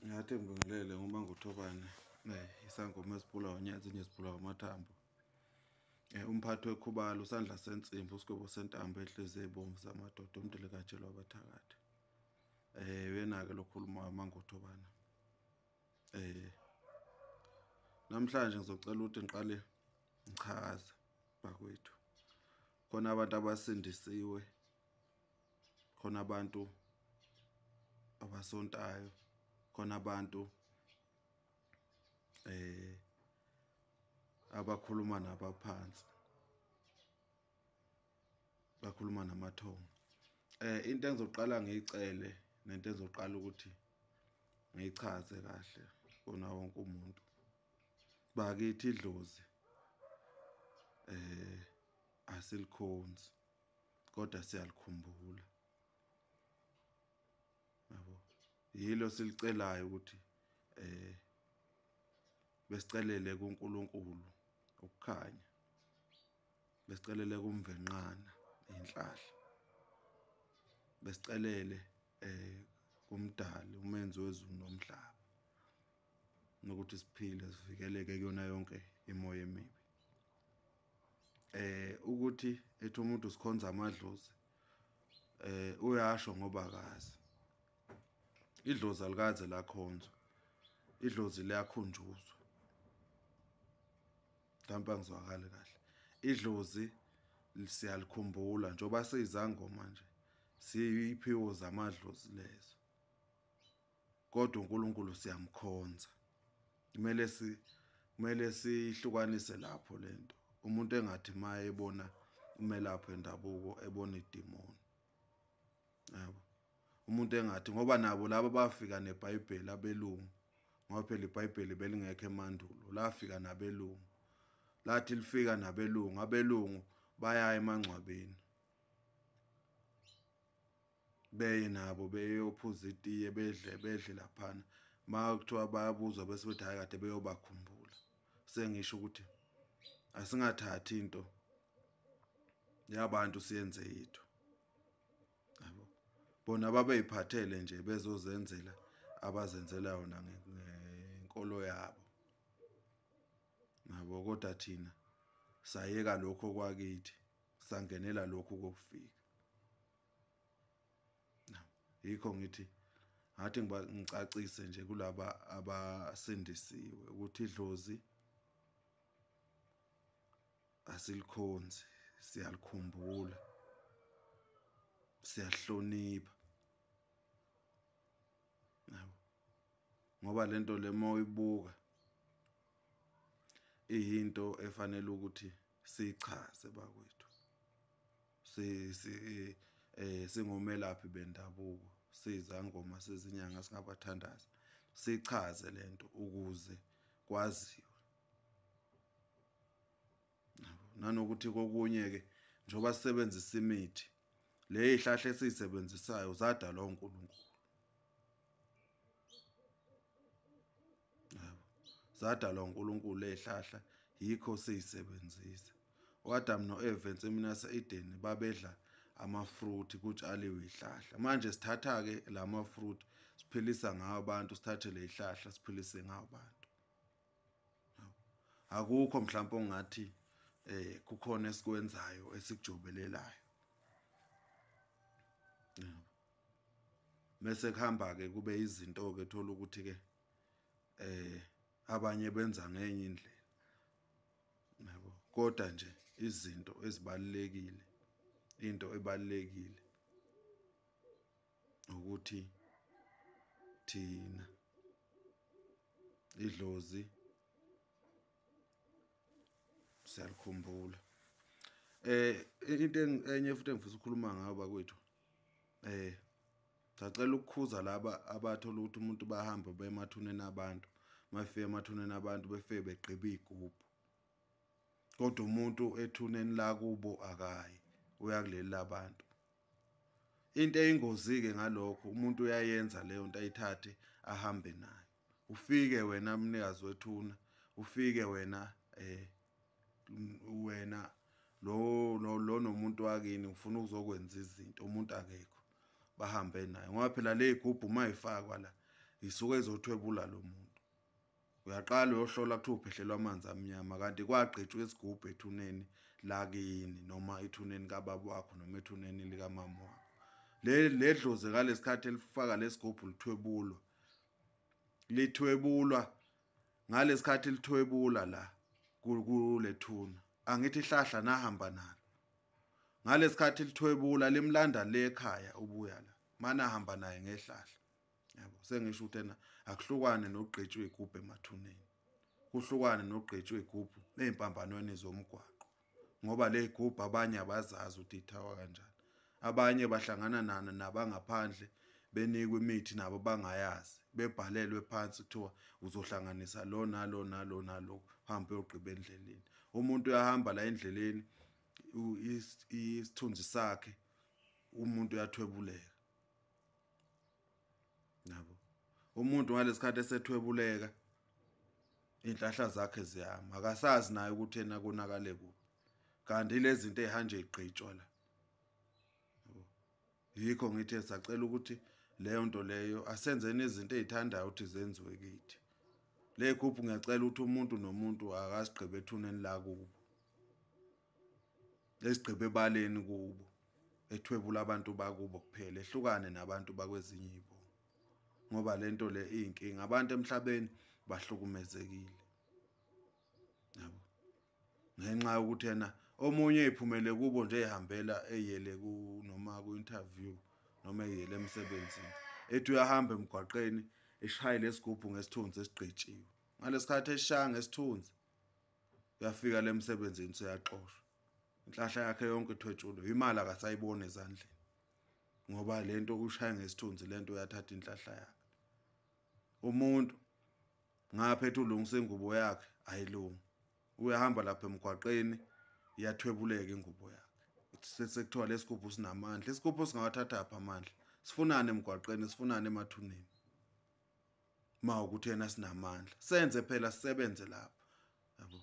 ngathi ngibingelele ngoba nguthobane eh, isangoma esibhula onyazi inye sibhula amathambo eh, umphathi wekhubalo usandla sensimbi usigwebo sentambo enhliziyo ebomvu zamadoda umdele katshelwa abathakathi um eh, uyena-ke lokhuluma amangothobana um namhlanje ngizocela ukuthi ngiqale ngichaze bakwethu khona abantu abasindisiwe khona abantu abasontayo khona abantu eh abakhuluma nabaphansi bakhuluma namathongo eh into engizoqala ngiyicele nento engizoqala ukuthi ngiyichaze kahle kona wonke umuntu bakithi idlozi eh asilikhonzi kodwa siyalikhumbula yabo yilo silicelayo ukuthi eh besicelele kuNkulunkulu ukukhanya besicelele kumvenqana inhlahla besicelele eh kumdali umenzi wezulu nomhlaba nokuthi siphile sivikeleke kuyona yonke imoya emibi eh ukuthi ethi umuntu sikhonza amadlozi eh uyasho ngoba akazi idlozi alikaze lakhonzwa idlozi liyakhunjuzwa mhlawumbe angizwakali kahle idlozi siyalikhumbula njengoba siyizangoma nje siyiphiwo zamadlozi lezo kodwa uNkulunkulu siyamkhonza kumele si kumele sihlukanise lapho lento umuntu engathi maye ebona umelaphi endabuko ebona idimoni yabo umuntu engathi ngoba nabo laba bafika nebhayibheli abelungu ngoba phela ibhayibheli belingekho emandulo lafika nabelungu lathi lifika nabelungu abelungu bayaya emangcwabeni beye nabo beyophuza itiye bedle bedle laphana ma kuthiwa bayabuzwa bese bethi hayi kade beyobakhumbula sengisho ukuthi asingathathi into yabantu siyenze yithu yabo bona babeyiphathele nje bezozenzela abazenzela yona ngenkolo yabo nabo kodwa thina sayeka lokho kwakithi sangenela lokho kokufika yikho ngithi ngathi ngiba ngicacise nje kulaba abasindisiwe ukuthi idlozi asilikhonzi siyalikhumbula siyahlonipha yabo ngoba lento lema uyibuka iyinto efanele ukuthi sichaze bakwethu si si eh singomelaphi bendabuko sizangoma sezinyanga singabathandaza sichaze lento ukuze kwaziwe nanokuthi kokunye ke njoba sisebenzisa imithi le ihlahle esiyisebenzisayo zadalwa uNkulunkulu zadalwa uNkulunkulu ezihlahla yikho siyisebenzisa uAdam noEva ensimini yaseEden babedla amafruit kutshaliwe izihlahla manje sithatha ke lama fruit siphilisa ngawo abantu sithathe lezihlahla siphilise ngawo abantu akukho mhlawumbe ongathi eh kukhona esikwenzayo esikujobelelayo yebo mese kuhamba ke kube izinto ke thola ukuthi ke eh abanye benza ngenye indlela yabo kodwa nje izinto ezibalekile into ebalekile ukuthi thina idlozi siyalikhumbula eh into enye futhi engifisa ukukhuluma ngayo bakwethu eh sacela ukukhuza laba abathola ukuthi umuntu bahambe bemathuneni abantu mafike emathuneni abantu befike begqiba igubhu kodwa umuntu ethuneni la kubo akayi uyakuleli labantu into eyingozi ke ngalokho umuntu uyayenza leyo nto ayithathe ahambe nayo ufike wena mnikazi wethuna ufike wena eh wena lo lo nomuntu wakini ufuna ukuzokwenza izinto umuntu akekho bahambe naye ngoba phela le gubhu uma ifakwa la isuke ezothwebula lo muntu uyaqala uyohlola kuthiwa uphehlelwa amanzi amnyama kanti kwagqitshwa isigubhu ethuneni lakini noma ethuneni kababa wakho noma ethuneni likamama wakho le ledlozi ngalesikhathi elifaka lesigubhu lithwebulwa lithwebulwa ngalesikhathi lithwebula la kulethuna angithi ihlahla nahamba nalo ngalesikhathi lithwebula limlanda le ekhaya ubuya la mana hamba naye ngehlahla yabo sengisho ukuthi ena akuhlukwane nogqitshwe igubhu emathuneni kuhlukwane nogqitshwe igubhu ezimpambanweni zomgwaqo ngoba le gubhu abanye abazazi ukuthi ithawa kanjani abanye bahlangana nana nabangaphandle benikwe imithi nabo bangayazi bebhalelwe phansi kuthiwa uzohlanganisa lo nalo nalo nalo hambe uyogqiba endleleni umuntu uyahamba la endleleni isithunzi sakhe umuntu uyathwebuleka nabo umuntu ngalesikhathi esethwebuleka inhlahla zakhe ziyama akasazi naye ukuthi yena konakale kuphi kanti lezi zinto ezihanje igqitshwa la yikho ngithi sacela ukuthi leyo nto leyo asenzeni izinto ezithandayo ukuthi zenziwe kithi le group ngiyacela ukuthi umuntu nomuntu akasigqibe ethuneni lakubo ezigqiba ebaleni kubo ethwebula abantu bakubo kuphela ehlukane nabantu bakwezinye ibo ngoba lento le inkinga abantu emhlabeni bahlukumezekile yabo ngenxa yokuthi yena omunye ephumele kubo nje ehambela eyele ku noma ku interview noma eyele emsebenzini ethi uyahamba emgwaqeni eshayile isigubhu ngesithunzi esigqitshiwe ngalesikhathi eshaya ngesithunzi uyafika le msebenzini seyaxoshwa inhlahla yakhe yonke ithwetshulwe imali akasayiboni ezandleni ngoba le nto ushaya ngesithunzi le nto uyathatha inhlahla yakhe umuntu ngapha ethi ulungisa ingubo yakhe ayilungi uyahamba lapha emgwaqeni iyathwebuleka ingubo yakhe sekuthiwa lesigubhu sinamandla isigubhu singawathatha apha amandla sifunane emgwaqeni sifunane emathuneni ma ukuthi yena sinamandla senze phela sisebenze lapha yabo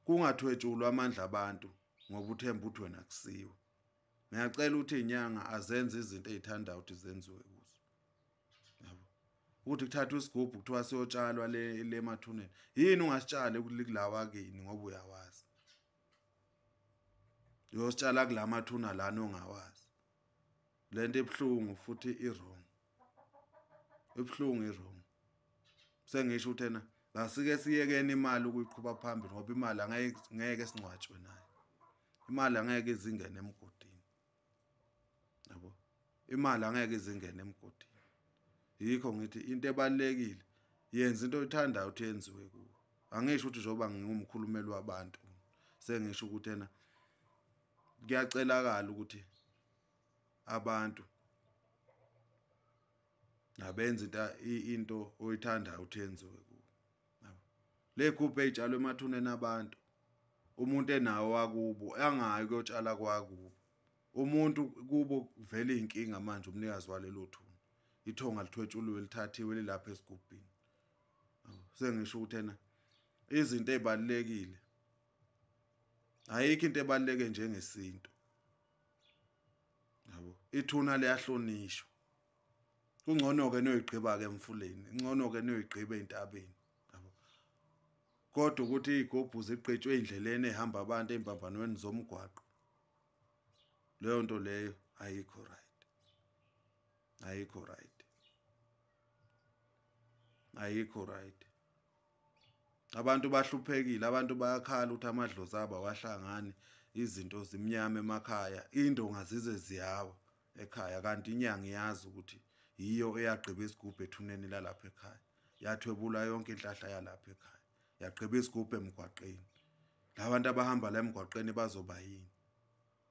kungathwetshulwa amandla abantu ngoba uthemba ukuthi wena kusiwe ngiyacela ukuthi inyanga azenze izinto ezithanda ukuthi zenziwe kuzo yabo ukuthi kuthatha isigubhu kuthiwa siyotshalwa le le mathuneni yini ungasitshale kulilawa kini ngoba uyawazi uyositshala kulamathuna lana ongawazi lento ebhlungu futhi i wrong ibuhlungu iwrong sengisho ukuthi ena ngasike siyekeni imali ukuyiqhuba phambili ngoba imali angeke singcwatshwe nayo imali angeke izingene emgodini yabo imali angeke izingene emgodini yikho ngithi into ebalekile yenza into oyithandayo uthi yenziwe kuwe angisho ukuthi njengoba ngingumkhulumeli wabantu sengisho ukuthi ena kuyacelakala ukuthi abantu nabenza into into oyithandayo uthenziwe ku le group etshalwe emathuneni abantu umuntu enawo wakubo angayi kuyotshala kwakubo umuntu kubo vele inkinga manje umnikazi walelo thuna ithonga lithwetshuliwe lithathiwe lilapha esigubhini sengisho ukuthi ena izinto ezibalekile ayikho into ebaleke njengesintu yabo ithuna liyahlonishwa kungcono ke noyigqiba ke emfuleni ingcono ke noyigqiba entabeni yabo kodwa ukuthi igobhu ziqetshwe indleleni ehamba abantu embambanweni zomgwaqo leyo nto leyo ayikho right ayikho right ayikho right abantu bahluphekile abantu bayakhala ukuthi amadlozi abo awahlangani izinto zimnyama emakhaya indonga zize ziyawa ekhaya kanti inyanga iyazi ukuthi yiyo eyagqiba isigubhu ethuneni lalapha ekhaya yathwebula yonke inhlahla yalapha ekhaya yagqiba isigubhu emgwaqeni labantu abahamba la emgwaqeni bazoba yini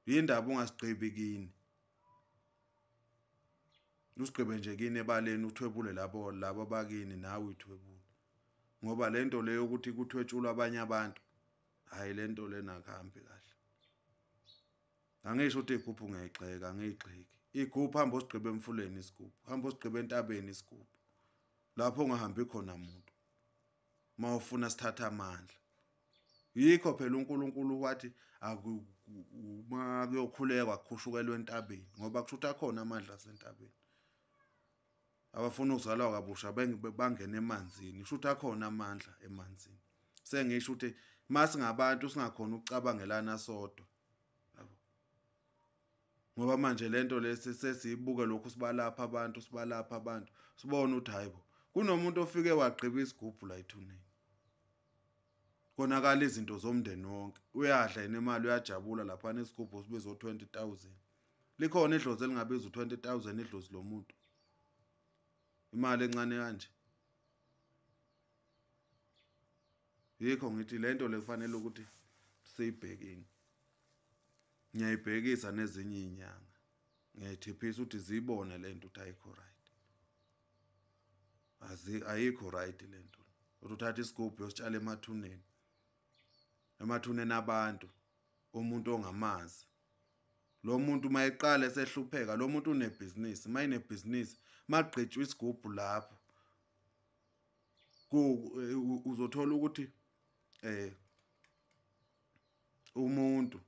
yindaba ungasigqibi kini usigqibe nje kini ebaleni uthwebule labo labo bakini nawe uthwebule ngoba lento leyo ukuthi kuthwetshulwa abanye abantu hayi lento lena kahambi kahle angisho ukuthi igubhu ngiyayigxeka angiyigxeki igubhu hamba osigqibe emfuleni isigubhu hamba osigqibe entabeni isigubhu lapho ungahambi khona muntu uma ufuna sithatha amandla yikho phela uNkulunkulu wathi uma kuyokhulekwa kukhushukelwe entabeni ngoba kusho ukuthi akhona amandla asentabeni abafuna ukuzalwa kabusha bangene emanzini kusho ukuthi akhona amandla emanzini sengisho ukuthi masingabantu singakhona ukucabangelana sodwa ngoba manje lento lesi sesiyibuke lokhu sibalapha abantu sibalapha abantu sibona ukuthi hayibo kunomuntu ofike wagqiba isigubhu la ethuneni konakala izinto zomndeni wonke uyadla yena imali uyajabula lapha nesigubhu sibizo 20000 likhona idlozi elingabiza u20000 idlozi lomuntu imali encane kanje yikho ngithi le nto le kufanele ukuthi siyibhekini ngiyayibhekisa nezinye iy'nyanga ngiyayithiphisa ukuthi ziyibone le nto ukuthi ayikho right ayikho right le nto ukuthi uthatha isigubhu yositshala emathuneni emathuneni abantu umuntu ongamazi lo muntu uma eqala esehlupheka lo muntu unebhizinisi uma inebhizinisi magqitshwa isigubhu lapho eh, uzothola ukuthi eh umuntu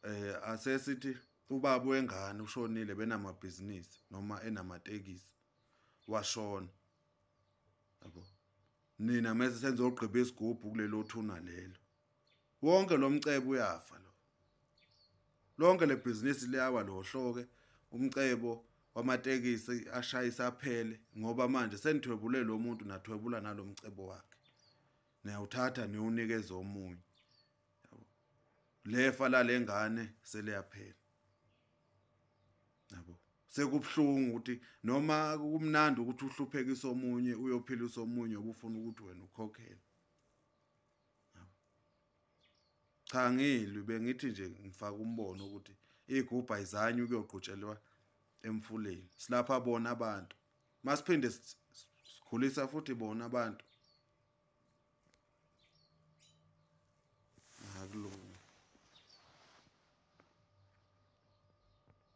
eh asesithi ubaba wengane ushonile benamabhizinisi noma enamatekisi washona yabo nina mase senze ogqiba isigubhu kulelo thuna lelo wonke lo mcebo uyafa lo lonke le bhizinisi liyawa lo hloke umcebo wamatekisi ashayisa aphele ngoba manje senithwebule lo muntu nathwebula nalomcebo wakhe niyawuthatha niwunikeza omunye lefa lalengane seliyaphela yabo sekubuhlungu ukuthi noma kumnandi ukuthi uhluphekisa omunye uyophilisa omunye obufuna ukuthi wena ukhokhele cha ngilwi bengithi nje ngifaka umbono ukuthi igubha izanye ukuyoqhutshelwa emfuleni silapha bona abantu masiphinde sikhulisa futhi bona abantu akulungi